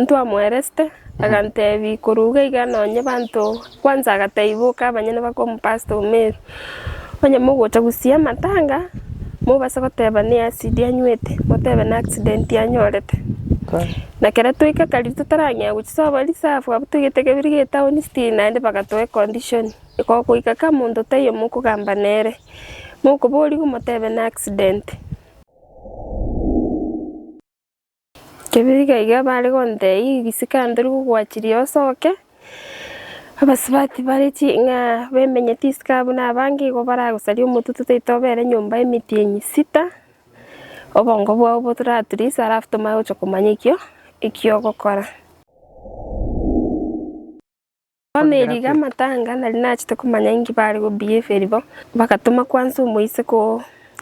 Ntwamweresete, agantebi, Koruga iga nonye banto kwanza agataiboka abanyene bakomopastor omeru, onye mogocha gusia amatanga mobase goteba ne acid anywete, motebe ne accident anyorete. Na kere toika kare totarang'ea gochia sobo reserve abwo toigete kebiri gie town still naende bagatoa econdition iko goika ka monto taiyo mokogamba nere, mokoboria omotebe ne accident. Kebiga iga bare gontei, Ogisika ntori gogwachiria osoke. Abasubati bare ching'a bemenyeti isiko abwo na abange igo baragosaria omotutu taito obere nyomba emitienyi sita, obongo bwao botoraturisa alafu tomanye gochia komanya ekio ekiogokora. Bameriga amatanga, nari nachete komanya inki bare go behavior bo, bagatoma kwansa omoise ko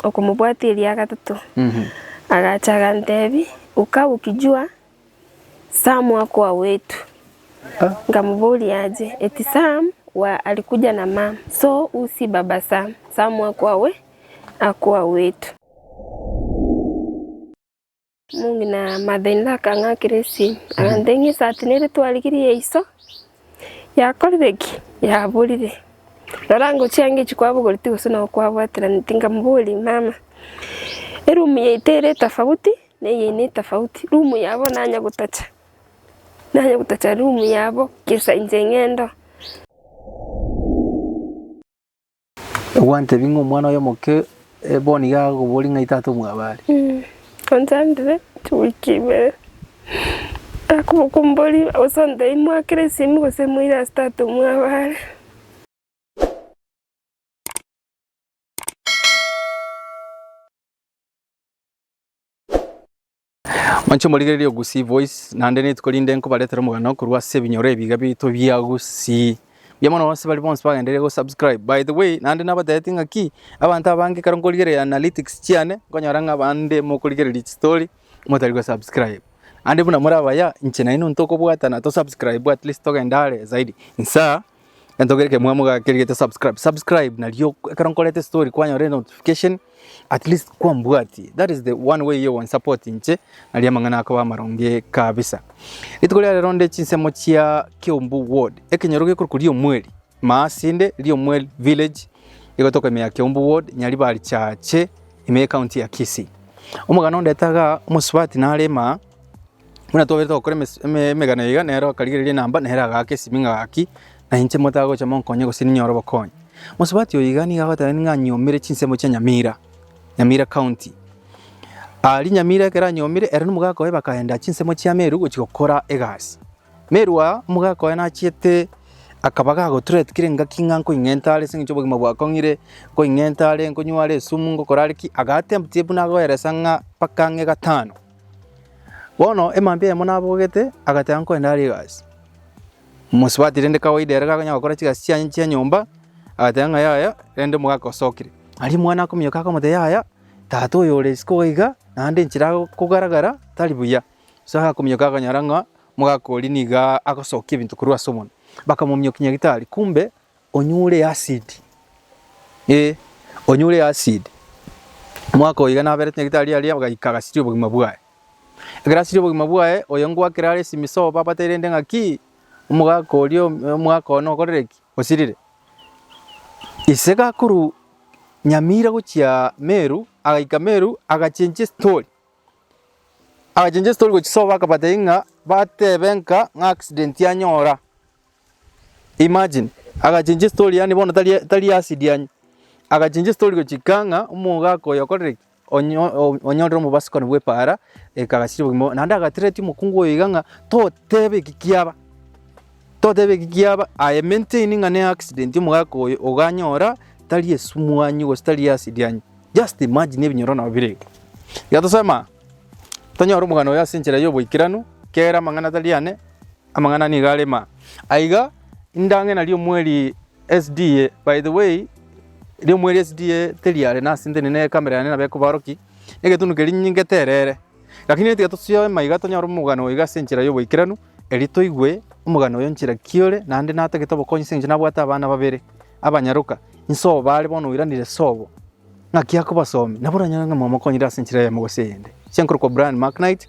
okomobwatia eria gatato. Agacha agantebi, uka ukijua Sam akoa wetu. Nkamuboria aje, eti Sam wa alikuja na mam, so u si baba Sam, Sam akoa we, akoa wetu. Omong'ina Marthain akang'akera esimi, agantebia, Ng'a esaati nere twarigirie ya iso yakorire ki? Yaborire. Rora ngochia ange echi kwabogoretie gose nabo kwabwateraneti. Nkamoboria, Mama, erumu yaito ere etafauti na eyaino etafauti, rumu yabo nanye gotacha, nanye gotacha rumu yabo, gesa inche ng'ende oo. Ogwantebi ng'a omwana oye omoke bono iga agokoboria ng'ai tata omwabare? Onchandire chiwiki ibere, akoboka omborie gose ontebie mwakire esimi gose moire ase tata omwabare. Inche omorigereria o Gusii Voice, naende rituko rinde nkobaretera omogano korwa ase ebinyoro ebiga bito bia Gusii. Mbuya mono bonsi baria bonsi bagendereire go subscribe. By the way, naende nabatebetie ng'a ki, abanto abange ekero nkorigereria analytics chiane, nkonyora ng'a abande mokorigereria chistory, motari go subscribe. Naende buna more abaya, inche nainwe ntokobwatana to subscribe at least togende are zaidi. Insaa. Gento kere kemwa moga keri gete subscribe subscribe nario ekero nkorete story kwanyora notification at least kwambwatie that is the one way yo one support inche naria amang'ana akoba amaronge kabisa rituko ria rero nde chinsemo chia Kiombu ward ekenyoro gekorwa kuri omweri maasinde ri omweri village egotoka ime ya Kiombu ward nyaribari chache ime ye county ya Kisii omogano ndete iga omosubati narema Buna twaberete gokora emes- eme- emegano iga, nere okarigereria enamba, nere agaaka esimi ng'a gaki, na inche motagocha monkonye gose ninyore obokonyi. Mosubati oyo iga nigo agotebiwa ng'a anyomire chinsemo chia Nyamira, Nyamira County. Aria Nyamira ekero anyomire, ere na omogaka oye bakaenda chinsemo chia Meru gochia gokora egasi. Meru aa, omogaka oye nachiete akaba gagotrate kera engaki ng'a nkoing'enta are ase eng'encho obogima bwakong'ire, nkoing'enta are, nkonywa are esumu, ngokora are ki, agatempt buna agoeresa ng'a mpaka ang'e gatano. Bono emambia eyemo nabogete, agateba nkorende are egasi. Mosubati rende kawaida ere gakonya gokora chigasi chianye chia nyomba, agateba ng'a yaya, rende omogaka osokire. Aria omwana akominyoka akamotebia yaya, tata oyo ore isiko iga iga, naende enchera agokogara gara tari buya. Ase agakominyoka akanyora ng'a omogaka oria niga agosokia ebinto korwa ase omonwa. Bakamominyokia nyagetari, kumbe Onyure easidi, ee, onyure easidi. Omwaka oyo iga naberete nyagetari aria agaika agasiria obogima bwaye. Ekero asirie obogima bwaye, oyo ngwakera are esimisogo babateirente ng'aki, omogaka oria omwaka one okorire ki? Osirire. Ise gakorwa Nyamira gochia Meru, agaika Meru agachenchia estori, agachenchia estori gochia sobo akabatebi ng'a batebe ng'a ng'a accident yanyora. Imagine, agachenchi estory yaani bono tari tari acid yaani. Agachenchi estory gochika ng'a omogaka oyo okorire ki? Onyo o- onyorire omobasikoni bwa epaara ekagasiria obogima boye. Naende agateretia omokungu oyo iga ng'a totebe eki kiaba, totebe eki kiaba aye maintain ng'a ne accident omogaka oyo oganyora tari esumu anye gose tari acid anye. Just imagine ebinyoro nabo bire iga. Iga tosema, tonyore omogano oyo ase enchera ya oboikeranu, kera amang'ana tari ane. Amang'ana nigo are ma. Aiga indang'ina riomweri SDA, by the way riomweri SDA teriare nase ntende ne camera yane nabo ekobaroki, egetunu keria nyinge terere. Lakini nigo tiga tosioe maiga tonyore omogano oiga ase enchera y'oboikeranu, erio toigwe omogano oyo nchera ki ore naende natagete obokonyi ase eng'encho nabwate abana babere abanyaroka, inse obo are bono oiranire sobo, ng'aki akobasomia, nabo oranyore ng'a mwamokonyire ase enchera eyemo gose eyende. Ase enkorokwa Brian Macknight.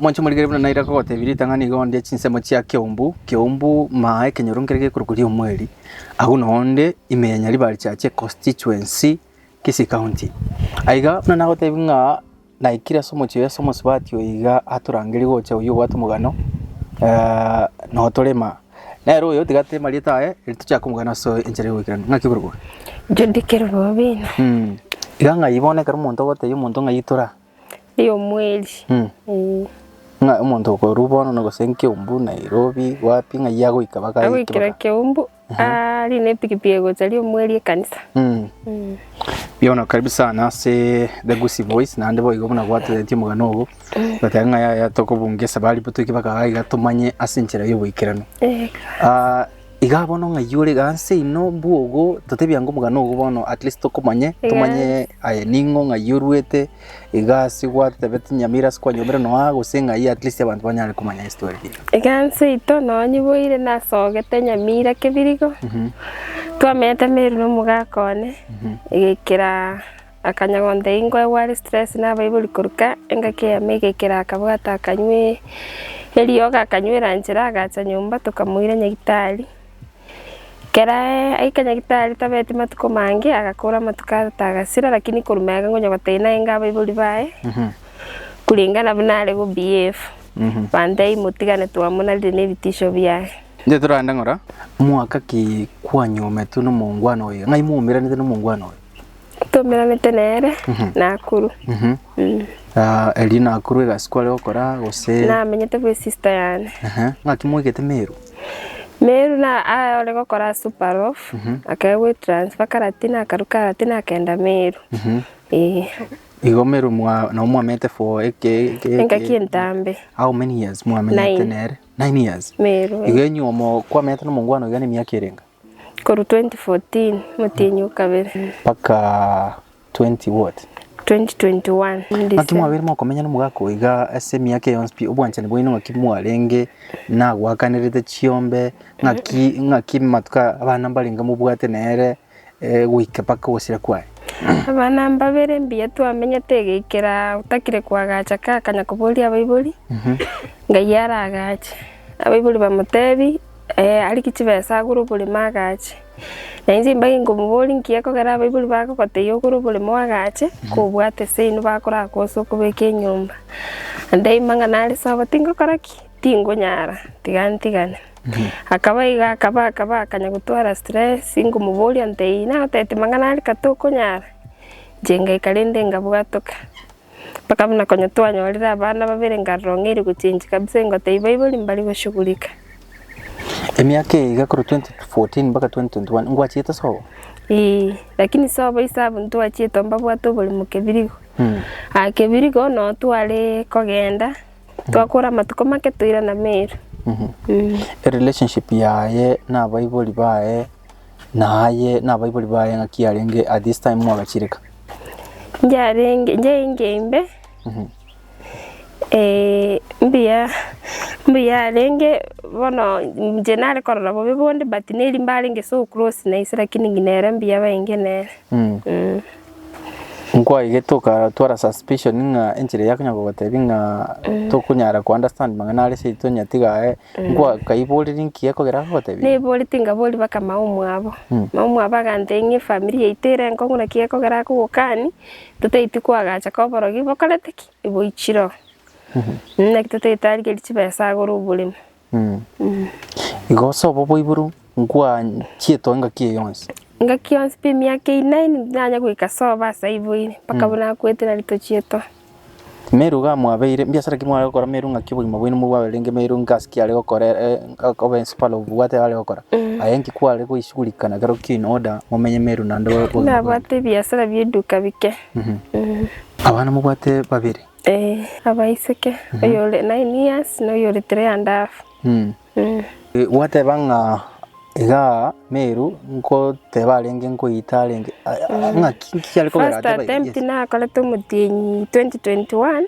Mwanche morigere buna naira kogotebia ritang'ani iga onde chinsemo chia keumbu keumbu maa ekenyoru nkere gekorokwa riomweri agwo na onde ime ya Nyaribarichache constituency Kisii county. Aiga buna nagotebia ng'a naikire ase omochie oye ase omosubati oyo iga atorangerie gocha oyio obwate omogano eh, noo torema. Nere oyo otigateire marieta aye eri tochake omogano ase enchera y'ogoikeranu. Ng'aki okorokwa? Judy Kerubobina. Mm. Iga ng'ai bono ekero omonto ogotebia omonto ng'ai itora Ey'omweri, Mm. eh, Ng'a omonto okorwa bono na gose nkeumbu Nairobi wapi ng'ai agoika baka agoikera Keumbu, arie na epikipiki egocha aria omweri ekanisa. Mm. Mm. Yono karibu sana ase The Gusii Voice naende boigo buna gwatenetie omogano ogo goteba ng'a yaya tokobunga esabari botoike baka iga tomanye ase enchera y'oboikeranu. Eh, Ah, Iga bono ng'ai ore iga nse ino bwogo totebi ango omogano ogo bono at least tokomanye Yes. tomanye aye ning'o ng'ai oruete iga ase gwatebete nyamira ase kwanyomire noa gose ng'ai at least abanto banyare komanya history eye. Iga nse ito nonya nyiboire nasogete nyamira kebirigo, twamenyete Meru na omogaka one egekera Akanyagonta ingo ya gware stress na abaibori koruka engaki ya meiga ekero akabwata akanywa eriogo akanywera nchera agacha nyomba tokamoira nyagitari. Ekero aika nyagitari tabeti matuko mange agakora amatuko atata agasira lakini korwa magega ngonya gotebia naende abaibori baye kuringana buna are go behave bantebia motigane twamonarire na ebitisho biaye. Inche torande ng'ora, mwaka ki kwanyometwe nomongwana oye? Ng'ai mwaumeranete nomongwana oye? Tomeranete nere Nakuru. Ah, erio Nakuru egasi kware gokora gose? Namenyete bwe sister yane. Ehe, ng'aki moigete Meru? Meru na ah, ore gokora Superloaf, akaya gwe transfer Karatina akaru Karatina akenda Meru. Eh, Igo Meru mwa nabo mwamenyete for eke eke engaki entambe How many years mwamenyete Nine. nere? Nine years. Meru. Igo enyiomo kwamenyete na omongwana oiga nemiaka erenge? Korwa 2014 motienyi o kabere. Mpaka 20 what? 2021 Ng'aki December. mwabeire mokomenya nomogaka oyo iga ase emiaka eye yonsi pi? Obwanchani bwaino ng'aki mwarenge nagwakanerete chiombe? Ng'aki ng'aki matuko aya abana mbarenge mobwate nere eh, goika mpaka ogosira kwaye? Abana mbabere mbuya twamenyete egeikera otakire koagacha ka akanya koboria abaibori, Ngai aragache. Abaibori bamotebi, Ee, ariki chibesa agure oboremo agache. Na inche mbaiga nkomoboria nki ekogera abaibori bagogoteyia ogore oboremo agache, kobwate ase inwe bakoraka ase okobeka enyomba. Ndebi mang'ana are sobo, tingokora ki? Tingonyara, tiga ntigane. Akaba iga akaba akaba akanya gotwara stress, nkomoboria ntebi, naye otebete mang'ana are ka tokonyara? Inche ngaika rende ngabwatoka. Mpaka buna konya twanyorire abana babere nkarora ong'eire gochenchia kabisa ingotebia baibori mbari goshugulika. Emiaka eye iga korwa 2014 mpaka 2021 ngwachiete sobo? Eeh lakini sobo ase abwo ntwachiete oo mbabwate oborimo kebirigo. Aah kebirigo noo tware kogenda twakora amatuko make toirana Meru. Erelationship yaye na abaibori baye. Na aye nabaibori baye ng'aki yarenge at this time mwagachireka. Yarenge yarenge imbe eh, mbuya mbuya yarenge bono nje nare korora bobe bonde but neri mbarenge so close na ise lakini ng'ina ere mbuya bainge nere Mm. Mm. Nkwaigete okatwara suspicion ng'a enchera yakonya kogotebia ng'a tokonyara ko understand mang'ana are seito onya tiga aye Nkwaiborerie nki ekero agogoteebia? Naibori tingaboria baka maomwabo. Maomwabo agantebia ng'a efamiri yaito ere enkong'u naki ekogera akogokani totaiti koagacha ka oborogi bokorete ki? Boichire oo. Naki totaiti arigerie chibesa agore oborimo. Igo ase obo boiboru nkwanchiete engaki eye yonsi? Engaki yonsi pi emiaka eye inani, tonyara goika sobo ase aiboire, mpaka abwo nakwete nari tochiete oo. Meru gamwabeire, mbiasara ki mware gokora? Meru ng'aki obogima bwaino mobwaberenge? Meru ng'asi ki are gokora ere obe ensuparo obwate are gokora? Aye inki kware goisigurikana ekero kiaino order momenye Meru naende obogima bwaino? Nabwate ebiasara bi'eduka bike. Abana mobwate babere? Ee, abaiseke, oyore nine years na oyore three and half. Gwateba ng'a iga Meru nkoteba arenge nkoyeta arenge ng'aki nkiare kobera First ateba attempt yes. nakorete omotienyi 2021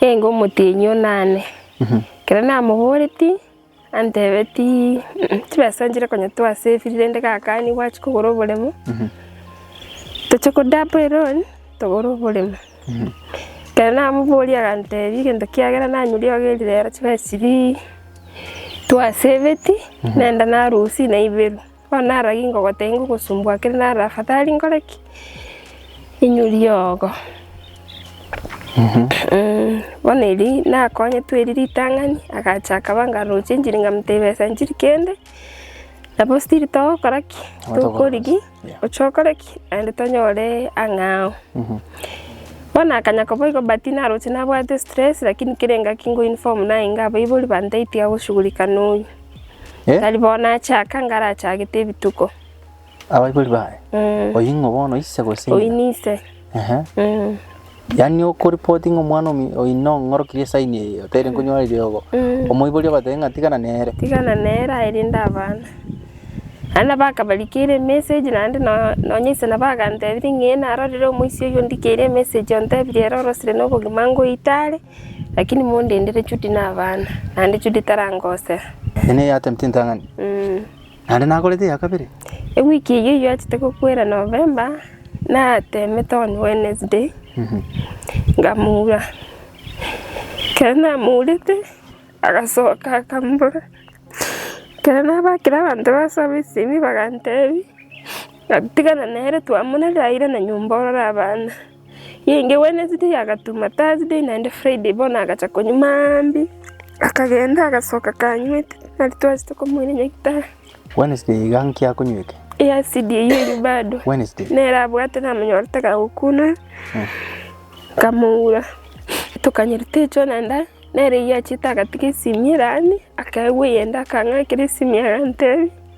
enge omotienyi onane kero namoboreti antebeti "Mm, chibesa nchire konya twasave rende gakani gwachia kogora oboremo toche ko double loan togore oboremo Ekero namoboria agantebi egento kiagera nanyeriogerie rero chibe chiri twasebeti nenda narusia naiberu. Bono naragi ngogotebia ngogosumbua kere naro afadhali nkore ki? Inyurie ogo. Bono erio nakonyetwe erio ritang'ani agacha akaba ngarosia enchiri nkamotebia esa nchiri kende nabo still togokora ki? Tokorigia. Oche okore ki? Naende tonyore ang'aa oo. Bono akanya koba igo but naroche nabwate stress lakini kera engaki ngoinform naye ng'a abaibori bantebi tiga goshughulika na oyio. Eh? Tari bono nachaka ng'a arachagete ebituko. Abaibori baye? Oyio ng'o bono ise gose ng'ina? Oyio nise. Ehe. Mm. Yaani okoripoti ng'a omwana omi- oino ng'orokirie esaini eye oteire nkonyora eriogo Mm. omoiborie obatebe ng'a tigana nere tigana nere aerinde abana naende bakabarikera emessage naende no- nonye inse nabo agantebirie ng'a ee narorire omoisia oyio ondikeire emessage ontebirie ere orosire na obogima ngoite are lakini mondendere Judy na abana naende Judy tarangosera. Eye neye atemete entang'ani. Mm. Naende nagorete eya kabere. Ewiki eyio yoachete gokwera November, natemete on Wednesday, nkamura. Ekero namurete, agasoka akambora. Ekero nabakire abanto base abaisemi bagantebia, ng'a tigana nere twamoneraire na nyomba orore abana. Yainge Wednesday yagatuma Thursday naende Friday bono agacha konywa maambia, akagenda agasoka kanywete, nari twachete komoira nyagetari. Wednesday iga nki akonywete? Ee acid eyio eria bado. Wednesday. Nere abwate namonyore tagagokuna, nkamoura tokanywa ritecho naende nere oyio achete agatiga esimi eraanie, akaegwa eyende akang'akera esimi agantebia.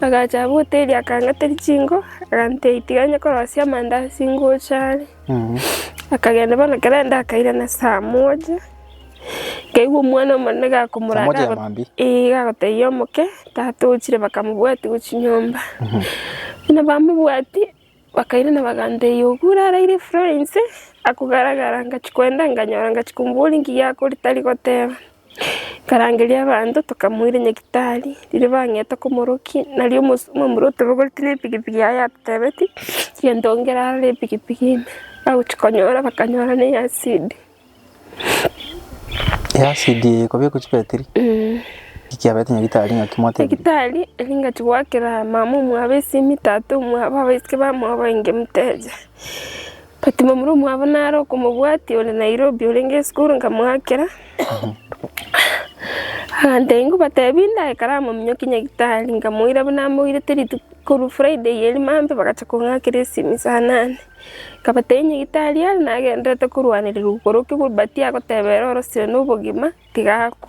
Agacha abote erio akang'ateria chinko, agantebia, Tiga inye korosia amanda ase ingocha are. Akagenda bono ekero aenda akairana saa moja, nkaigwa omwana omonene gakomora Saa moja ya maambia? eh gagotebia omoke, tata ochire bakamobwatia gochia nyomba. Buna bamobwatia, Bakairana bagantegia, Ogure araire efura inse akogaragara, ngachia koenda nganyora, ngachia komoboria inki giakore tari goteba. Nkarangeria abanto tokamoira nyagitari, riria bang'eta komorokia, nario omos- omomura otobogoretie na epikipiki yaye atotebeti, tiga ntongera aroro epikipiki ime. Bagochia konyora bakanyora neye asidi. Ekitari eringachia goakera mama omwabo esimi, tata omwabo, abaiseke bamwabo bainge moteja. But momura omwabo nare okomobwatia ore Nairobi orenge esukuru nkamoakera, agantebia nigo obatebi ndaikare amo ominyoke nyagetari, nkamoira buna amoirete rituko korwa Friday eria Monday bagachia kong'akera esimi saa nane. Akabatebia, Inye Gitaria, nagendererete korwanererwa igoro kegurubati agoteba ere orosire nobogima, tiga akwe.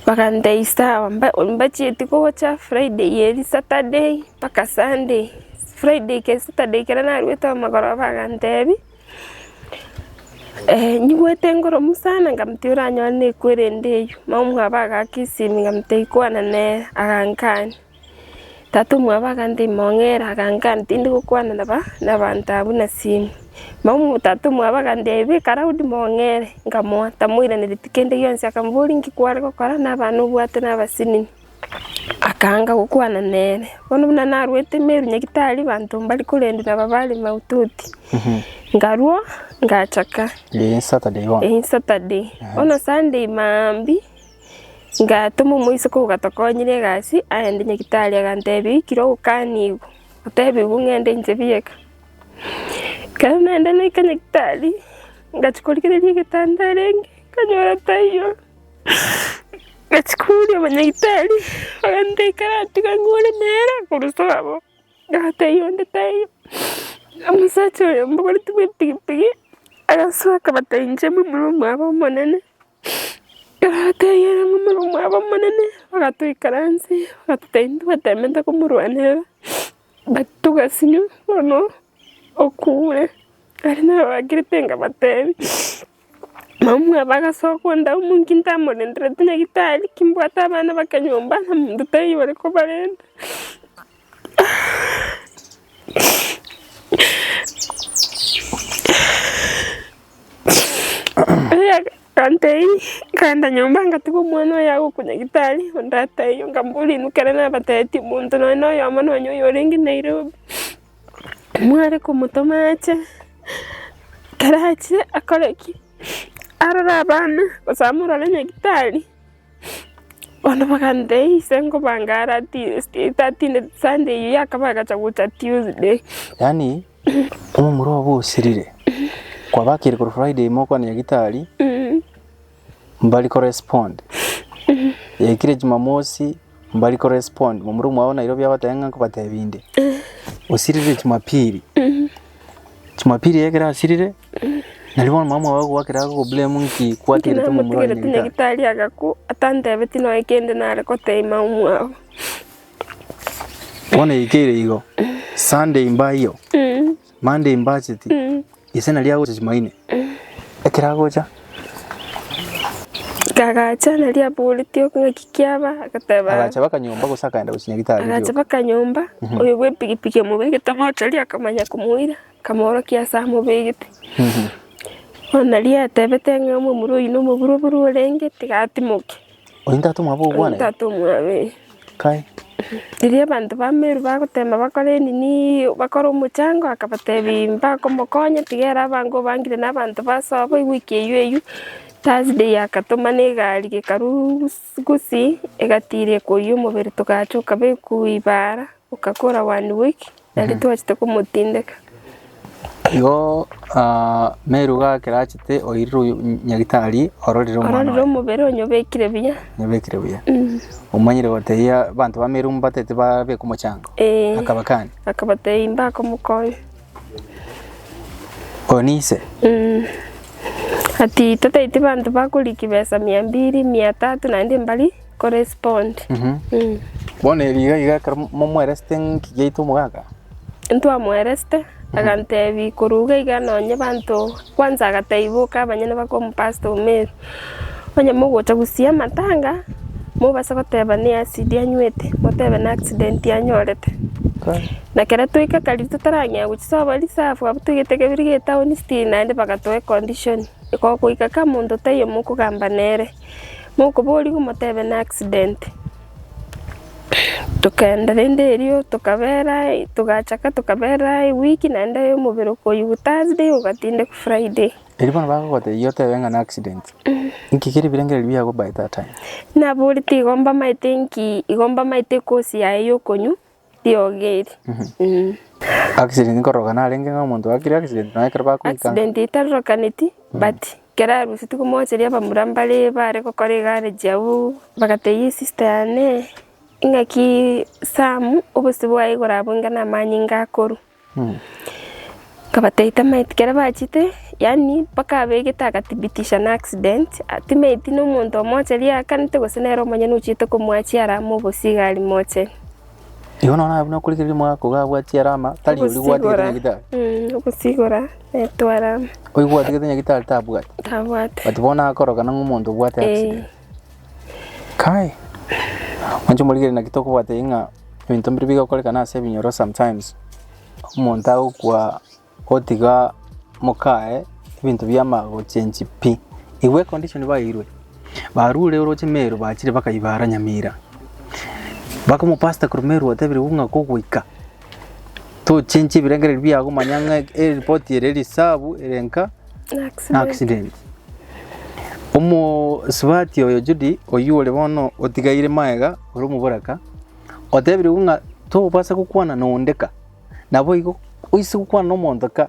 Bagantebia, Is sawa, mbachieti gocha Friday eri Saturday mpaka Sunday. Friday ke Saturday kere narwete amagoro bagantebia, nyigwete ngoromu sana, nkamotebia oranyore nekwere ende eyio. Mama omwabo agaka esimi nkamotebia ikwana nere, agankania. Tata omwabo aganteimong'era, agankaa tindi gokwana naba nabanto abwo nasini. Mama tata omwabo agantebi, beka Daudi mong'ere, nkamoa, tamoiraneretie kende gionsi, akamboria, Inki kware gokora nabana obwate nabasinini? Akaanga gokwana nere. Bono buna narwete Meru Nyagitari, banto mbari korendwa naba bare maututi, nkarua ngachaka. Eye Saturday bono. Eye Saturday. Bono Sunday maambia. Ngatoma omoiseke ogatokonyire egasi, agende nyagetari agantebia oikire ogokanigwe, otebigwe ng'ende inche bieka. Ekero naenda naika nyagetari, ngachia korigereria egetanda arenge, nkanyora taiyo, ngachia kouria omonyagitari, agantebia kare tiga ng'ore nere korwa abwo, ng'a taiyo onde taiyo. Omosacha oyo mbogoretie bwepikipiki, agasoka agatebia inche mbu murumuna obo omonene. Akabateebia, “Momura omwabo omonene, bagatoikaransia, bagatotebia ntobateemete komorwanerera, but togasinywa bono okure. Ere nabaakirete akabateebia, “Mamwabo agasoka onde amo inki ntamorendereti nyagitari, kimbwate abana b'ekenyomba na omonto taiyo ore kobarenta. Erio agantei, nkaenda nyomba ngatiga omwana oye agokwa nyagetari o tata erio, nkamboria inwe ekero nabatebitie omonto nonye na oyomo nonye oyo orenge Nairobi, mware komotoma ache, ekero achire akore ki? Arore abana gose amorore nyagetari. Bono bagantebi, Ise nkobanga ara tinde Sunday eyio yakaba agacha gocha Tuesday. Yaani omomura obo osirire kwabakire korwa Friday mokwana nyagitari mbari ko respond yaikire Jumamosi mbari ko respond momura omwabo o Nairobi abatebia ng'a nkobatebi inde osirire Jumapili Jumapili ekero asirire Nario bono mama oye agogoa ekero agogoa eburemu ng'iki kwaterete ng'a omorwaire Namotegerete nyagitari. nyagitari agakwa, atantebetie nonya kende nare koteema omwao. Bono yaikeire igo, Sunday mbaiyo, Monday mbacheti, ise nario agocha chimaine. Ekero agocha, Agacha nario aboreti oka ng'aki kiaba, agateba, agacha baka nyomba gose akaenda gochia nyagitari agacha oria. baka nyomba, oyo bw'epigipigi omobegete moto aria akamanya komoira. Akamoorokia ase amobegete. Bono riria yatebete ng'a omomura oyio nomoburoburu orenge, tigatimoke. Oyio ntatomwa abe ogwane? Ntatomwa abe. Kae. Riria abanto ba Meru bagotema bakore enini, bakore omochango, akabatebia mbakomokonya, tiga ere abange obangire na abanto baso abwo, igwe ekieyio eyio. Thursday akatomana egari gekarwa. Sikusi egatiira ekori y'omobere togacha okabekwa ibaara, okakora one week nari twachete komotindeka. Igo ah, Meru gakerachete oirire oyo- nyagitari ororire omwana Ororire oye omobere onyobekire buya. nyabekire buya omanyire gotebia abanto ba Meru mbatete babeka omochango Ee. akabakani Akabatebia imbakomokonya. Oyo ninse. Ati totaeti banto bakoriki besa mia mbiri, mia tatu naende mbari korespond. Bono erio iga iga ekero mo- momweresete ng'iki giaito omogaka, Ntwamweresete agantebi korwa iga iga nonye banto kwanza agataiboka abanyene bakwa omopasta omeru. Onye mogocha gosia amatanga, mobase goteba ne acid anywete, motebe ne accident anyorete. Na kera twaika Kaliri totarang'ea gochia Soba Reserve, abwo twaigete Kebiri getaoni city naende bagatoa econdition, iko goika ka monto taiyo mokogamba nere, mokoboria gomotebe ne accident. Tokaenda rende erio tokabera togachaka tokabera eweek naende omobere okoyigwa Thursday ogatindeka Friday. Erio bono bagogotebia otebe ng'a ne accident, inki keri birengererio biago by that time? Naboria tigo mbamaete inki igo mbamaete ekosi yaye ya okonywa, riogi eri. Accident nkororoka narenge ng'a omonto akire accident nonya ekero bakoikanga. Accident etarorokaneti but ekero arusia tikomoacheria abamura mbare bare gokora egarage abwo bagatebia esista yane, ing'aki Sam obosio bwaye igoro abwo inga namanyinga akorwa. Akabatebia, Tamaiti kere bachete, yaani mpaka abegete agathibitisha na accident, timaiti na omonto omoche riakanete gose nere omonyene ochete komoachia arama obosigari moche. Igo nonya abwo nakore ekero riomwabo akoba abwatie arama, tari oria obwatigete Ogosigora, nyagitari. mm, ogosigora naetwa arama, Oyo obwatigete nyagitari tabwati. tabwati. But bono nakoroka nang'o omonto obwate Eh. accident. Kai, inche omorigereria naki tokobwata eyio ng'a ebinto mbiri bigokorekana ase ebinyoro sometimes, omonto agokwa otiga mokaye ebinto biama gochengi pi. Igwa econdition baeirwe, barure oroche Meru bachire bakaibara Nyamira, bakomopastor korwa Meru otebire buna kogoika. tochenche ebirengererio biago manya ng'a eripoti ere eri sabu ere nka na accident. Omosubati oyo Judy oyio ore bono otigaire magega ore omoboraka, otebirwe ng'a tobasa gokwana na onde ka, naboigo oise gokwana na omonto ka.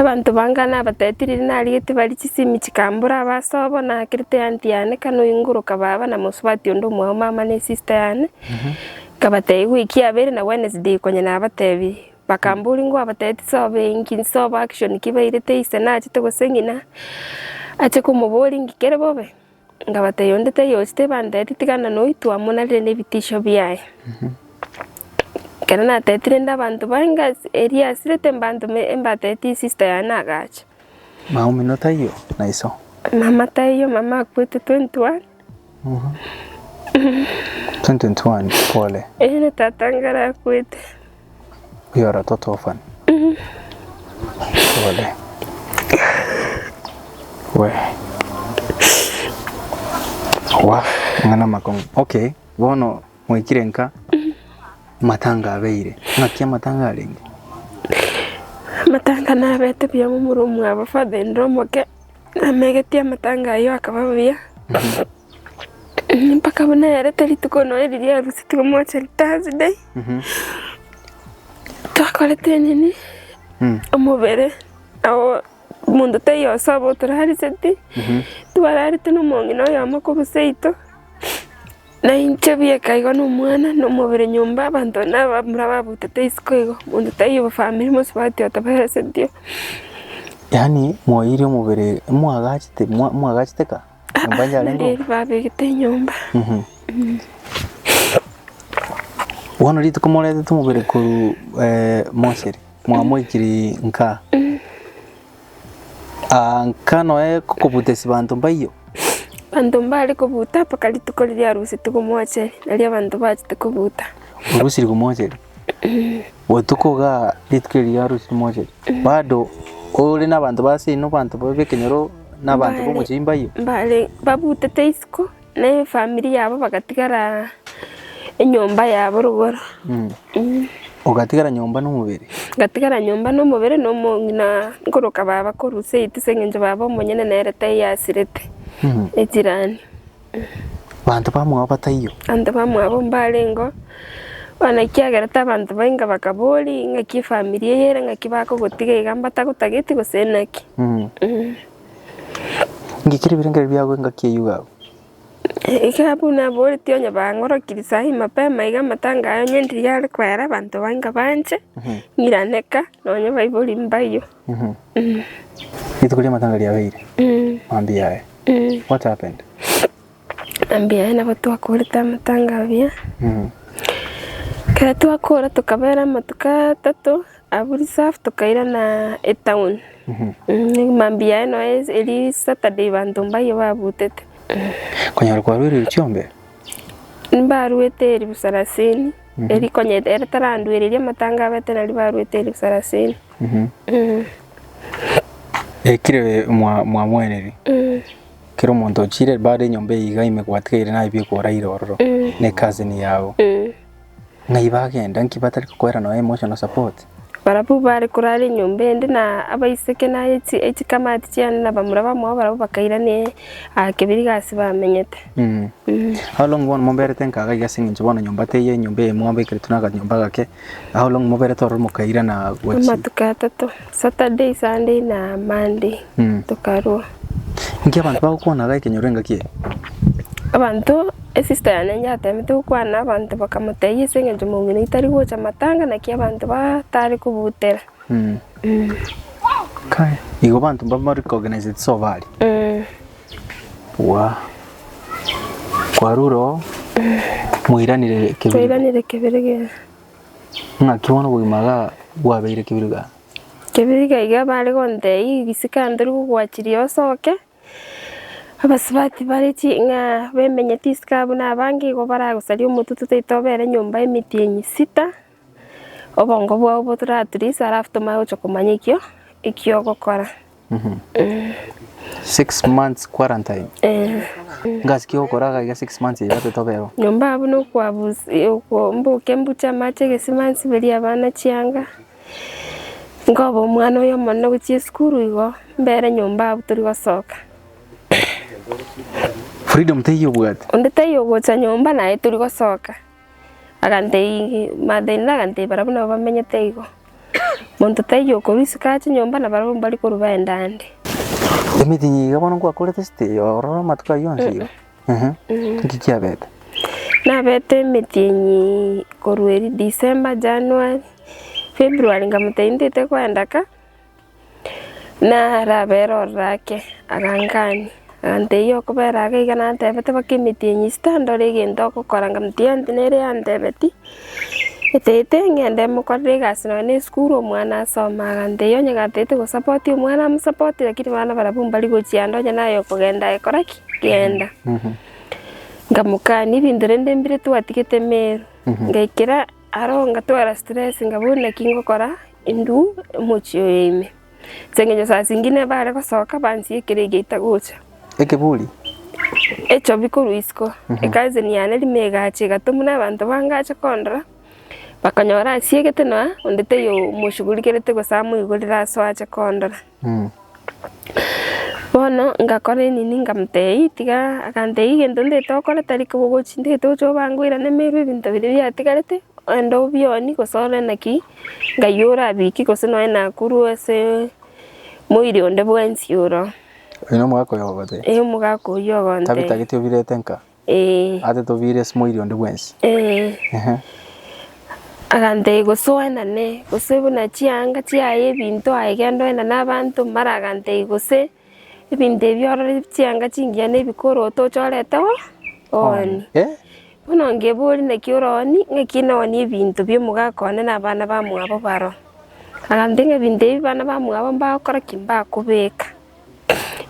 Abanto banga nabatebete riria narigetie barie chisemi chikambora abaso abo nakerete eanty yane kane oingoroka baba na mosubati onde omwao mama ne sister yane, nkabatebia ewiki yabere na Wednesday konya nabatebirie, bakambori ngwabatebia tisobe enki nsobe action ki bairete ise nachete gose ng'ina ache komobori ng'ikere bobe. Ngabatebia, Onde taiyo oche tebanteeti tigana noitwe amo nare nebitisio biaye. Ekero nateetire nde abanto bainga erio asirete mbantume mbateeti sister yaye nagacha. Mama omino taiyo na iso? Mama taiyo, mama akwete 2021. 2021, pole. Eeh, tata ngare akwete. Bwioreto tofani ole we wa ng'a namakong'u okay bono mwaikire nka matanga abeire ng'aki amatanga arenge Amatanga nabete buya momura omwabo father in law omoke namegetie amatanga ayio akaba buya Mpaka buna yareta rituko nonya riria yarusetie omwase Thursday, twakorete enini, omobere awo omonto taiyo osobo torariseti, twararete na omong'ina oyomo korwa seito, na inche bieka igo na omwana na omobere nyomba abanto na abamura babutete isiko igo, omonto taiyo obo famiri mosubati otoberesetie. Yaani mwaiyire omobere, mwagachete, mwa- mwagachete ka. Neri babegete enyomba. Bono rituko moretete omobere korwa eh, Mocheri mwamoikirie nka Ah, nka noe kokobuta esibanto mbaiyo Banto mbare kobuta mpaka rituko riria arusetwe komocheri, nario abanto bachete kobuta. orusiri komocheri Botuko ga rituko eri riarure timoche bado ore nabanto ba ase ino banto babe ekenyoro na abanto ba omochie mbaye. Mbare babutete isiko na efamiri yabo bagatigara enyomba yabo rogoro. Ogatigara nyomba na omobere. Ngatigara nyomba na omobere na omong'ina nkoroka baba korwa seiti ase eng'encho baba omonyene nere taiyo asirete echirani. Abanto bamwabo bataiyo. Abanto bamwabo mbarengeo bono ekiagera tabanto bainga bakaboria ng'aki efamiri eye ere ng'aki bakogotiga iga mbatagotageti gose naki. Ngikere ebirengererio biago engaki eyio iga abwo. Iga abwo naboretie onye bang'orokiri saii mapema iga amatango aya onye ndiri are koyara abanto bainga banche ng'irane ka nonye baibori mbaiyo. Rituko ria matanga riabeire. Mambia yaye. What happened? Mambia yaye nabo twakorete amatanga abia. Ekero twakora tokabera amatuko atato abwo reserve tokairana etown. Mambia yaye noyo eria Saturday banto mbaye babutete. Konyora kwarwire erio chiombe? Mbaruete elfu sarasini. Ere rikonyete ere taranduereria amatango abete nario barwete ere sarasini. Ekire mwa mwamoeneri kero omonto ochire bare enyomba eye iga ime gwatigaire naye bie koraire ororo ne cousin yago ng'ai bagenda nki batari kokoera noe emotional support Barabwo baare korara enyomba ende na abaiseke na chikamati chiane na bamura bamwabo barabwo bakairana aa kebiriga aase bamenyete. How long bono moberete nkaga iga ase eng'encho bono nyomba teiyo enyomba eye mwabekeretwe naganyomba gake how long moberete ororo mokairana gochi Amatuko atato, Saturday, Sunday na Monday. tokarua. Inki abanto bagokwana gaike nyora engaki eye? Abanto, esista yane inche atemete gokwana abanto bakamotebia ase eng'encho mong'ina itari gocha matanga naki abanto batare kobutera. Kai, igo abanto mbabare koganaize chisafari. Waa, kwarure oo mwairanire kebirigoro. Twairanire kebirigoro. Naki bono obogima igaa bwabeire kebirigoro. Kebiga iga bare gonteiyi egesika ntori gogwachiria osoke, abasubati bare ching'a bamenyeti isiko abwo na abange igo baragosaria omotutu toita obere nyomba emitienyi sita, obongo bwao botoraturisa alafu tomanye gocha komanya ekio ekiogokora. Six months quarantine. Eh. Ngasi ki okora gaiga six months iga totobeo. Nyomba abu nokwabusi okombuke mbuche amache egesima nsiberie abana chianga. Nkoba omwana oyo omonene gochia esukuru igo mbere nyomba abu tori gosoka. Freedom teiyo obwate. Onde taiyo gocha nyomba naye tori gosoka. Aganteigia, Martha ere agantebia barabwo nabo bamenyete igo, Monto taiyo okorwa isiko aa chinyomba na barabwo mbari korwa baende ande. Emetinyi iga bono nkwakorete esete eye ororo amatuko ayio onsi iga? Ehe. Inki kiabete? Nabete emetinyi korwa eeri December, January, February nkamotebia ntete koenda ka. Narabere ororo ake, agangania, agantebia okobera ake iga nantebete baka emetienyi enyinchete tandore egento ogokora, nkamotebia onte nere yantebeti, etaete ng'ende mokorere egasi nonya na esukuru omwana asome, agantebia onye gataete gosapoti omwana amosapoti lakini bana barabwo mbari gochia ande onye naye okogenda aye kora ki? Genda. Nkamokania ebinto rende mbire twatigete Meru, ngaikera. Aro ngatwara stress nga bono naki ngokora indue omochie oyo ime. As'engencho saa zingine bare gosoka bansie ekero egia itagocha. Ekeburi. Echobi korwa isiko. Ecousin yane rimo egacha egatwa buna abanto bange ache kondora, bakanyora asiegete nonya onde taiyo omoshugurigerete gose amoigorire asoa ache kondora. Bono ngakora enini nkamotebia, tiga, akantebia egento ntaete gokora tari kobogochia, ntaete gochia obanga oirane meru ebinto biria biatigarete, ogende obionie gose ore naki, ng'ai orabikie gose nonya nakorwa ase moiri onde bwensi oro. Oino omogaka oyo ogotebia? Ee omogaka oyio ogotebia. Tabitagete obirete nka? Agantebia, Gose oenane, gose buna chianga chiaye ebinto aye genda oenane abanto. Mara agantebia, Gose ebinto ebi orore chianga chingiya na ebikoro otoche orete oo? Ooni. Bono ngebori naki ore ooni, ng'aki nooni ebinto bi omogaka one na abana bamwabo baro? Agantebia, Ng'a ebinto ebi abana bamwabo mbagokora ki? Mbakobeka.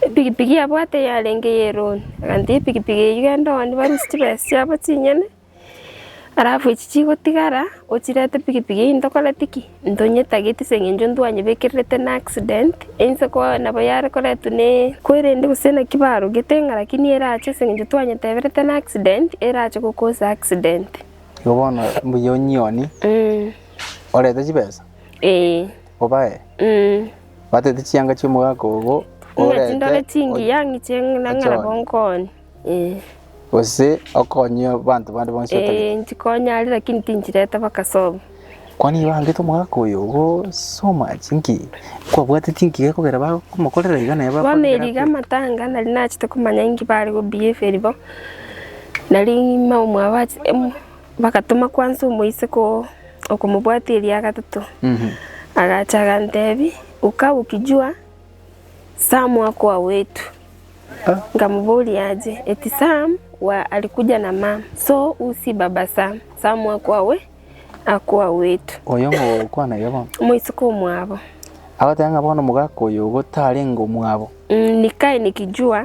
Epigipigi yabwate yarenge y'erooni, agatebia epigipigi eyio genda one barusie chibesa chiabo chinyene, alafu echi chigotigara ochirete pigipigi eyio ntokoreti ki? Ntonyetageti ase eng'encho ntwanyebekererete n'accident, einse ko nabo yare koretwa na kwerende gose naki barogete ng'a lakini erache ase eng'encho twanyeteberete n'accident erache gokosa accident. Igo bono mbuya onyioni orete chibesa? Eeh. obae, batete chianga chi'omogaka obo orete Ng'echindore chingiya ng'iche ng'a ng'a nabo ochone. nkonye. Eh. gose okonyie abanto bande bonsi Eh, otabete. nchikonya aria lakini tinchireta bakasobo. Kwani bangete omogaka oyo obo somache nki? Kwabwate chingiya ekogera bagomokorera iga naye Bono bakogera eriga akwe. amatanga nari nachete komanya inki bare go behave ribo, nari maumwabo ache- em- Bagatoma kwansa omoiseke oo okomobwatia eria gatato. Agacha agantebi, Uka gokijua Samu akoa wetu. Nkamoboria aje, eti Sam wa alikuja na mam, so u si baba Sam. Samu akoa we, akoa wetu. Oyo ngokwana iga bono. Omoiseke omwabo. Agoteba ng'a bono omogaka oyo ogo tarenge omwabo. Nikai nikijua.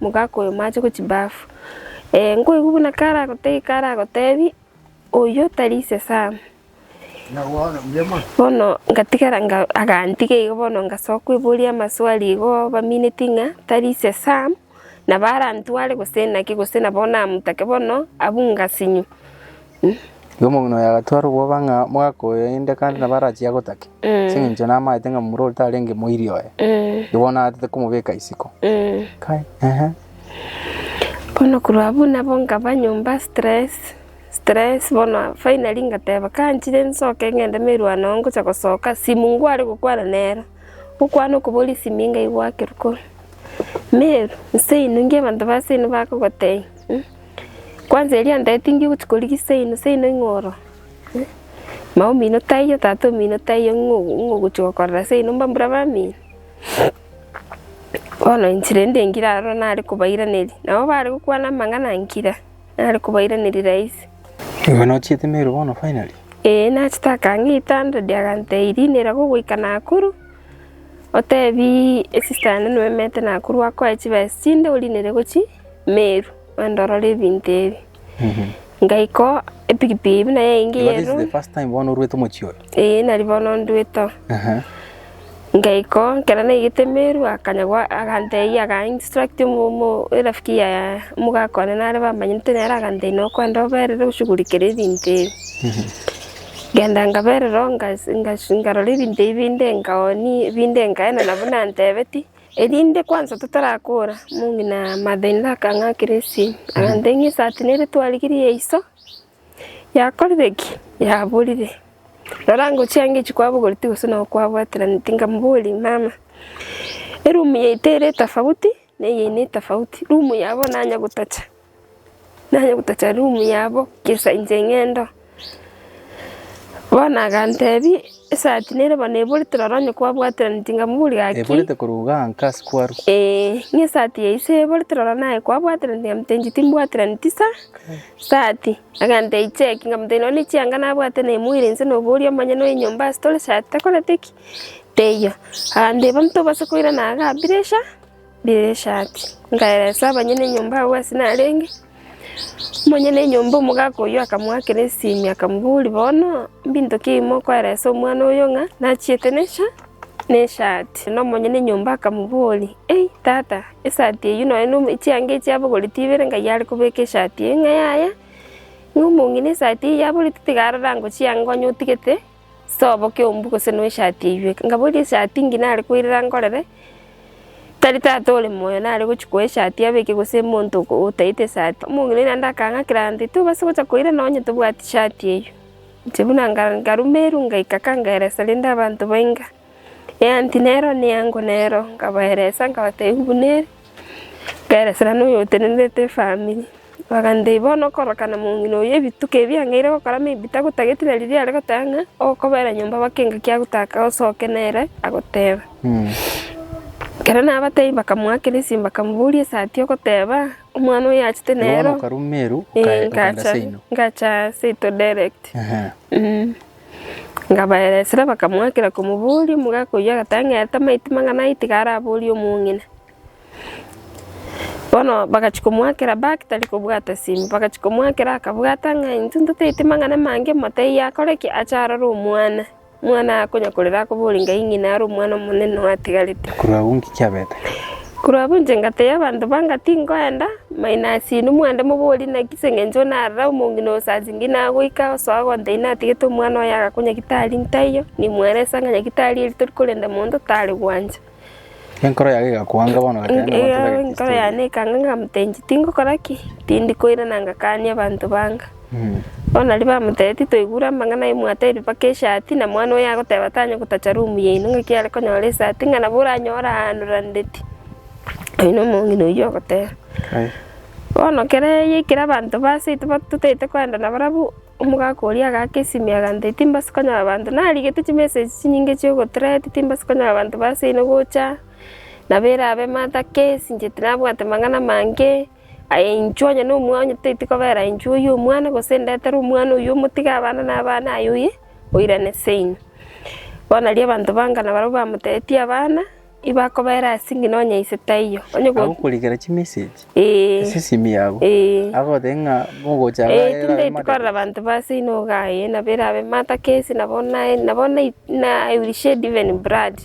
Mogaka oyo mache go chibafu. Ee, nkoigwa buna karagotege karagotebi, Oyio tari ise Sam. Bono ngatigara nga agantiga igo bono ngasoa kweboria amaswali igo bamineti ng'a tari ise Sam, nabo arantware gose naki gose nabo namotake bono abunga sinyo. Igo omong'ina oye agatwara obwoba ng'a mogakoywa inde kande nabo arachie agotake, ase eng'encho namaete ng'a momura oria tarenge moiri oye, igo bono naagachete komobeka isiko. Kai, ehe. Bono korwa abwo nabo nkaba nyomba stress, stress bono finally ngateba kanchire nsoke ng'ende merwano ngocha gosoka simu ngware gokwana nero, gokwana okobori simu inga igwakire koo, Mary, nseino, inki abanto ba seino bakogotebia? Kwanza erio antebetie inki ogochi korigia seino, seino ing'o oro? Mama omino taiyo, tata omino taiyo ng'o ng'o ogochi gokorera seino mbambura bamino? Bono inche rende nkire aro nare kobairaneria, nabo bare gokwana amang'ana nkira, nare kobairaneria rahisi. Igo nochiete Meru bono finally? Eeh nachete akang'aa etanda riria agantebia Irina irabe ogoika Nakuru, otebi esister yane noemete Nakuru akoe chibesa chinde orine ere gochia. Meru, ondorore ebinto ebi. Ngaika oo epikipiki buna yaingia Igo this is the Eromu. first time bono orwete omochie oyo. Ee, nari bono ndwete oo. Aha. Ngaika oo, ekero naigete Meru, akanyagwa agantebia aga instruct omo- omo- erafiki ya omogaka one nare bamanyete nere agantebia na okwenda oberere oshughulikere ebinto ebi. Ngenda nkaberera oo ngas- ngas- nkarora ebinto ebi binde nkaoni binde nkaenana buna antebetie. Erinde kwansa totarakora, omong'ina Mathenera akang'akera esimi, aganteng'ia esaati na ere twarigirie ya iso yakorire ki? Yaborire. Rora ngochia ange echio kwabogoretie gose nao kwabwateraneti, nkamoboria, mama, erumu yaito ere etafauti na eye ene etafauti, rumu yabo nanya gotacha? nanye gotacha room yabo gesa inche ng'endo, bono agantebia esati nere bo neborete rora onye kwabwaterani tingamori gaki. Eborete korwa igaa nka ase kwaru. Eeh, ng'a esati eye ase eborete rora naye kwabwaterani tingamotebi inche timbwaterani tisa, sati. Agantebia icheki nkamotebia nonye na echianga nabwate na emoira inse noboria omonyene oye nyomba ase tore sati takoreti ki? Teiyo. Agantebia bono tobasa koirana igaa pressure. Dirisha ati, Nkaeresa abanyene enyomba agwo ase narenge. Omonyene enyomba omogaka oyio akamoakera esimi, akamoboria, Bono, mbinto ki ebimo okoeresa omwana oyo ng'a nachiete nesha nesati? Na omonyene enyomba akamoboria, Ei, tata, esati eyio nonya na chianga echi abogoretie ibere ngai are kobeka esati eye ng'a yaya, ng'a omong'ina esati eye yaboretie tiga arore ango chianga onye otigete. Sobo keombu gose no eshati eywe. Ngaboria eshati ngi nare koirera nkorere, tari tata ore moyo nare gochi koa eshati abeke gose monto otaete esati. Omong'ina oye naende akang'a kiranti tobasa gocha koira nonye tobwati shati eywo. Inche buna nka nkarumerwa ngaika kangeresa rende abanto bainga. Eanti nero neango nero, nkabaeresa nkabatebia buna ere, nkaeresera noyotenenerete efamiri. Bakantebia bono okorokana mong'ina oyio ebituko ebi ang'eire gokora maybe tagotageti na riria are goteba ng'a okobera nyomba baka engaki agotaka osoke nere agoteba. Ekero nabatebia bakamoakera esimi bakamoboria esati ogoteba omwana oyo achete nero. Bono okarwa Meru okae- okaenda Seino. Ngacha Seito direct. Ngabaera esira bakamoakera komoboria, omogaka oyio agatang'erete amaiti mang'ana ayio tiga araborie omong'ina. Bono bagachia komoakera back tari kobwata simu, bagachia komoakera akabwata ng'a intwe ntotaete mang'ana amange motebi akore ki? Ache arore omwana, omwana akonya korera akoborie ng'ai ng'ina are omwana omonene oatigarete. Korwa agwo ng'iki abete? Korwa abwo inche ngateebia abanto banga tinkoenda, maino as'inwe mwende moborie naki 'seng'encho narara omong'ina osasinge inagoika osoa gonte inatagete omwana oye agaakwa nyagitari ntaiyo, nimweresa ng'a nyagitari eri tori korende monto tari gwancha. Enkoro yane egakwanga bono gateba nabo Enkoro yane ekanga ng'a motenyi tingokora ki? Tindi koirana ngakanie abanto banga. Bono nario bamotebia, Titoigure amang'ana aimwate aire mpaka esati, na mwana oye agoteba tanya gotacha rumu yaino ng'aki are konyora esati, ng'a nabo oranyore aano randeti. Oyio nomong'ina oyio ogoteba. Bono kera eyio ekero abanto ba ase aito totaete koenda nabarabwo, omogaka oria agaaka esimia agantebia, Timbasi konyora abanto, narigete chimesa echi chinyinge chia ogotreti, timbasi konyora abanto ba ase ino gocha, nabo erabe emata case, inche tinabwate mang'ana amange. Aye inchuo onye nomwonyo teti kobera inchuo oyio omwana, gose ndetere omwana oyio omotige abana na abana aye oye, oirane seino. Bono aria abanto banga na barabwo bamotebetie abana, ibakobera ase ng'ina onye ise taiyo. Onye go- Agokorikera chimessage Ee. ase esimi yago Ee. agoteba ng'a mogocha Ee, iga tinde eraremate. tikorera abanto ba seino iga aye, nabo erabe mother case, nabo naye, nabo na- na I will shed even blood.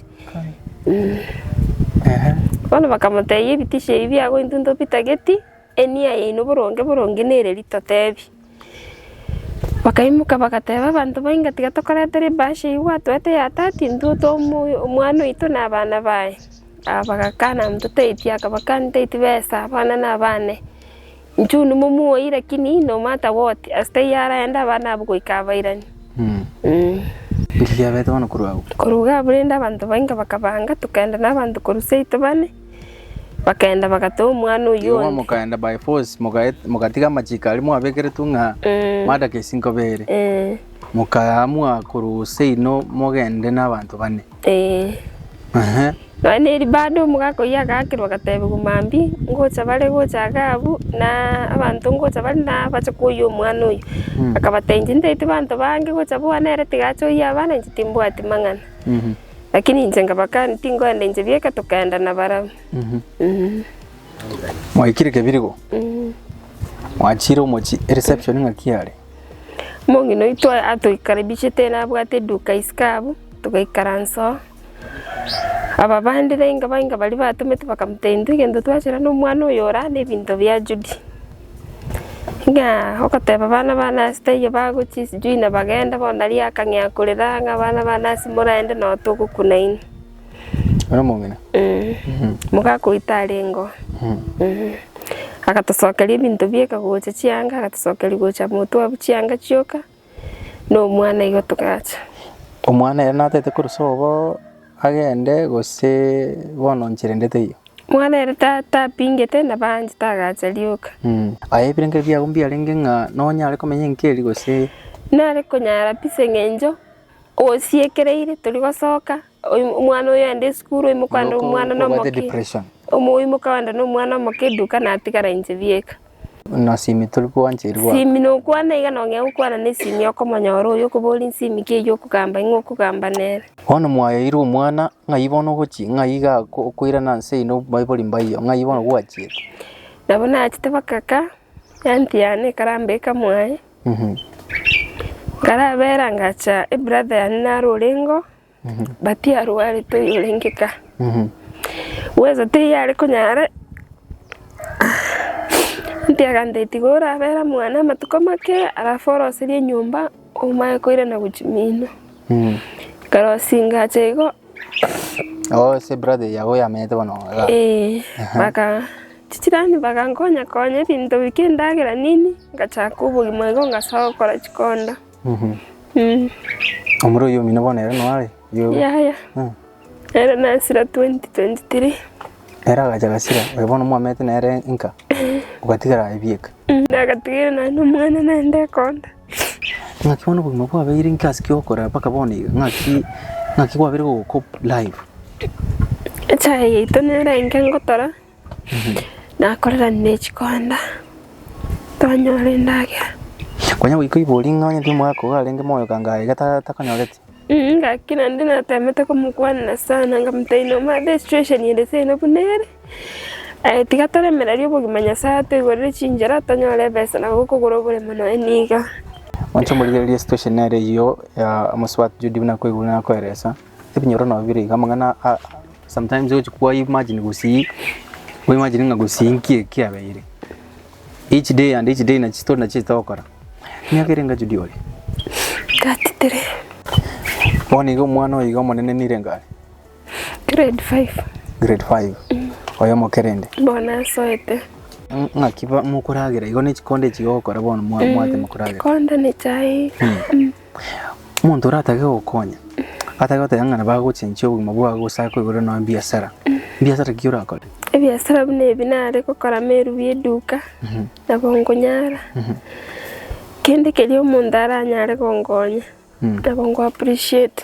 Bono bakamotebia, Ebitisho ebi biagointunta obitageti, enia yaino boronge boronge nere ritotebi. Bakaimoka bagateba abanto bainga, Tiga tokoretera ebahasha eyio gwatoete ya tati, intwe omwana oito na abana baye. Aba bagakana mototeti, akabakani teti besa abana na abane. Inchuo nimumuoyi lakini nomata goti ase taiyo araende abana abwo goika abairani. Inki giabete bono korwa agwo? Korwa iga abwo rende abanto bainga bakabanga, tokaenda nabanto korwa seito bane, bakaenda bagata omwana oyio Igo onde. mokaenda by force mogaet- mogatiga amachiko aria mwabekeretwe ng'a Mm. madaka ase inkoba ere. Eh, Mokaamua korwa seino mogende nabanto bane. Ee. Ehe. Nonya ne ribande omogaka oyio agakerwa agateebigwa mambia, ngocha bare gocha Agabu, na abanto ngocha bare na bache koyia omwana oyio. Akabatebia, Ntaeti banto bange gocha boa nere tiga ache oyie abana, inche timbwati mang'ana. Lakini inche nkabakania, tinkoenda inche bieka tokaenda nabarabwo. Mwaikire kebirigo, mwachire omochie, ereception ng'aki yare? Omong'ina oito atoikarabichete nabwate eduka isiko abwo, togaikaransa oo, aba bande bainga bainga baria batomete bakamotebia intwe egento twachera na omwana oyo ore aa na ebinto bia Judy. Ng'a ogoteba bana bane ase taiyo bagochia sijui na bagenda bono nari akang'ea korera ng'a bana bane ase moraende noo togokuna inwe. Ore omong'ina? Mogakoita arengo. Agatosokeria ebinto bieka gocha chianga, agatosokeria gocha motwe abwo chianga chioka, na omwana igo togacha. Omwana ere natete korwa sobo agende gose bono inchera ende teiyo? Mwana ere ta- tapingete na baanche tagacha rioka. Aye ebirengererio biago mbiarenge ng'a nonyare komenya enkieri gose? Nare konyara pi ase eng'encho. Ogosiekereire tori gosoka, oim- omwana oyo aende esukuru, oimoke aende Noko omwana kobwate nomoke. depression. Omo oimoke aende na omwana omoke eduka natigara inche bieka. Buna simi tori kwancheri gwa. Simi nokwana iga nong'ea gokwana na esimi okomonyora oyo okoboria nsimi ki eyio okogamba ing'o okogamba nere. Bono mwayaeire omwana, ng'ai bono ogochi, ng'ai iga ako okoirana nse ino baibori mbayio, ng'ai bono gwachiete. Nabo nachete bakaka, eanti yane ekaramba ekamwaye. Nkarabera ngacha ebrother yane naro orengo but arwarete oyo orenge ka bweza tiyare konyara mtu agambira ati igo orabera mwane amatuko make alafu oroserie enyomba omaye koirana gochia mino. Ikarosinga ache igo. Oh ase brother yago oyamenyete bono iga. Eh, baka chichirani bakankonya konya ebinto bike endagera nini ngachaka obogima igo ngasoa gokora chikonda. Omura oyio omino bono ere nore? Yaya. Ere na Esira 2023. Ere agacha agasira, oyo bono mwamete nere inka, ogatigara aye bieka. Nagatiga ere naye nomwana naende ekonda. Ng'aki bono obogima bwabeire inki ase ki'okorera mpaka bono iga? Ng'aki ng'aki gwabeire gogokob live? Echae yaito nere enke ngotora. nakorerania ne chikonda, tonyora endagera. Konya goika oibori ng'a onye timwaka iga arenge moyo kanga aiga takonyoreti. Gaki naende natemete komokwanera sana nkamotebi omanye ase esituesheni ere seino buna ere, aye tiga toremereria obogima Nyasaye atoigorere chinchera tonyore ebesa na gokogora oboremo nonya niga. Moche morigererie esituesheni ere eyio ya omosubati Judy buna akoigure na akoeresa. Ebinyoro nabio bire iga amang'ana a sometimes ogochia kwa imagine gosii, o imagine ng'a gosii nki eki kiabeire. Each day and each day nachi story nachiete gokora. Emiaka ere engachio diore. Thirty three. Bono iga omwana oyo iga omonene nire enga are? Grade five. Grade five. Oyo omokerende? Bono asoete. Ng- Ng'aki ba- mokoragera igo nechikonde echi iga ogokora bono mwa- mwatema koragera. Konde ne chai. Omonto oratake gokonya atake goteba ng'a nabo agochenchia obogima bwao gose akoigorere nonya ebiasara. Mbiasara ki orakore? Ebiasara buna ebi nare gokora meru bw'eduka, nabo nkonyara kende keria omonto aranyare gonkonya, nabo nko appreciate.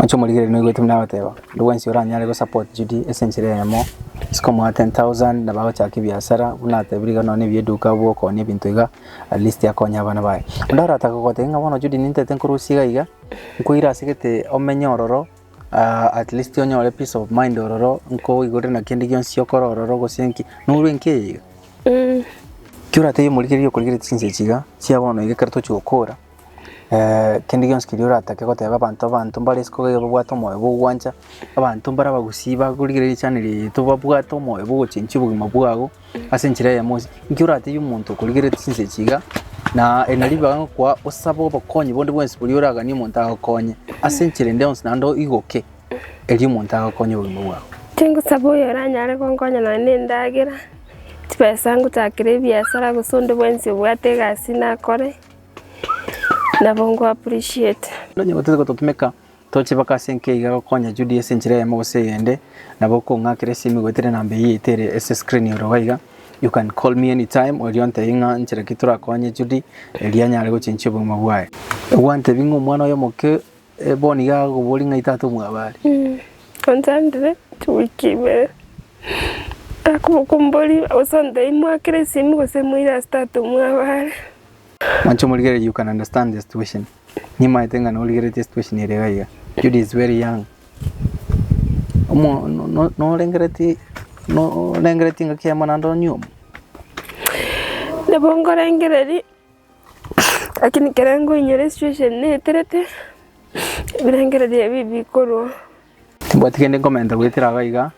Oche omorigereria noigwete buna agoteba, onde bwensi oranyare go support Judy ase enchera eyemo, isiko omoa ten thousand nabo agochaka ebiasara buna natebire iga nonya ebieduka abwo okonia ebinto iga at least akonye abana baye. Onde aratake gogotebia ng'a bono Judy nintete nkorusie iga iga, nkoira ase gete omenye ororo aa at least onyore peace of mind ororo nkoigorere na kende gionsi okore ororo gose nki, noru enki eye iga. Ekio oratebie omorigereria okorigeretie chinsa echi iga, chia bono iga ekero tochia gokora, kende gionsi keria oratake goteba abanto, abanto mbare isiko iga iga babwate omoyo bwa ogwancha, abanto mbare abagusii bakorigereria richani riaito babwate omoyo bwa ogochengi obogima bwabo ase enchera eyemo onsi. Inki oratebi omonto okorigeretie chinsa echi iga, na eri nari ribaga ngokwa osabe obokonyi bonde bwensi boria oraganie omonto agokonye ase enchera ende yonsi naende oigoke erio omonto agokonye obogima bwago. Tingosaba oyo oranyare gonkonya nonya na endagera, chibesa ngochakere ebiasara gose onde bwensi obwate egasi nakore. Nabo nko appreciate. Onye gotete gototumeka, tochebaka ase enki aiga gokonya Judy ase enchera eyemo gose eyende, nabo okong'akera esimu igwetire namba eyio yaito ere ase screen ore gaiga, You can call me anytime, oria ontebie ng'a nchera ki torakonye Judy erio anyare gochenchia obogima bwaye. Nigo gwantebia ng'a omwana oye omoke Bono nigo agokoboria ng'ai tata omwabo are. Onchandire chiwiki ibere. Akobokumboria gose ontebie mwakere esimi gose moire ase tata omwabo are. Mwancha omorigereria you can understand the situation. Nimaete ng'a norigeretie situation ere iga iga. Judy is very young. Omo norengeretie norengeretie ngaki y'amang'ana onye omo. Nabo nkorengereria. Lakini ekero nkoinyora esitueshon eye naeterete, ebirengererio ebi bikorwa. Timbwati kende nkomenta goetera iga iga,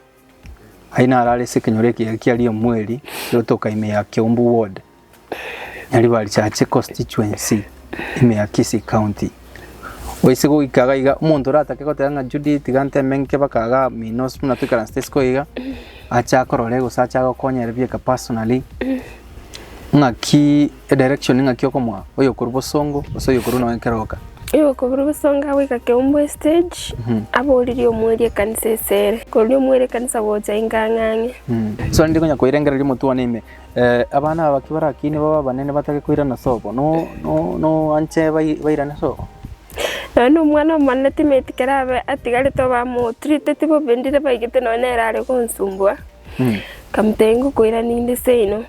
aye naro are ase ekenyoro ekiya kia Riomweri egotoka ime ya Kiombu Ward, Nyaribari Chache Constituency, ime ya Kisii County. Goise goika iga iga omonto oratake goteba ng'a Judy tiga nteme ng'ike mpaka igaa Minos buna toikaransete isiko iga, ache akorore gose ache agokonye aria bieka personally, ng'akii edirection ng'aki okomoa oyo okorwa bosongo gose oyo okorwa nonya keroka. Oyo okorwa bosongo agoika Keumbu estage, aboririe omweria ekanisa esere, koria omweria ekanisa gocha inga ang'ang'e. So rende konya koirengereria omotwe one ime. Abana aba ki barakiine babe abanene batage koirana sobo, noanche bairane sobo? Nonya nomwana omonene timeti kera abe atigarete obamotriteti bobe ndire baigete nonya nere are gonsubua, nkamotebia ngokoirania inde seino,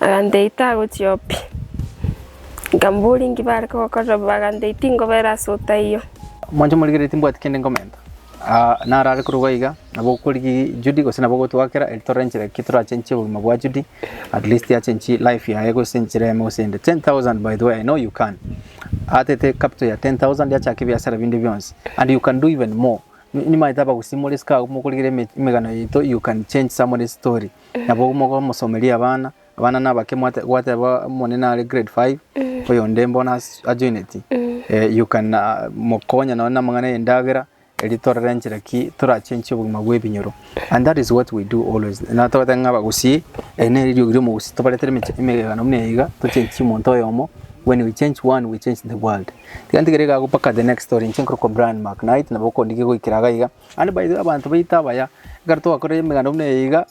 agantebia tagochia oo pi, nkamboria inki bare kogokorera, bagantebia tingobera ase otaiyo. Mwanche morigereria timbwati kende ngomenta. Aa narare korwa iga, nabo okorigi Judy gose nabo ogotwakera eri torore enchera ki torachenchie obogima bwa Judy, at least achenchie life yaye gose enchera yaye gose ende. 10,000 by the way, I know you can. Atete capital ya 10,000 yachaka ebiasara binde bionsi and you can do even more. Ni- Nimaete abagusimore esika agwo mokorigera eme- emegano yaito, you can change somebody's story. Nabo mogomosomeria abana, Abana nabake mwate- gwateba omonene are grade five oyonde mbono as- ajoineti eh, you can ah, mokonya nonye namang'ana y'endagera eri torore enchera ki torachenchie obogima bw'ebinyoro and that is what we do always na togoteba ng'a abagusii eri nere eriogi ri'omogusii tobaretere emeche- emegegano buna eyeiga tochenchie omonto oyomo when we change one we change the world tiga ntigere iga ago mpaka the next story inche nkorokwa Brian Macknight nabo okondigia goikera iga iga and by the way abanto baito abaya ekero twakorire emeganda buna eyeiga.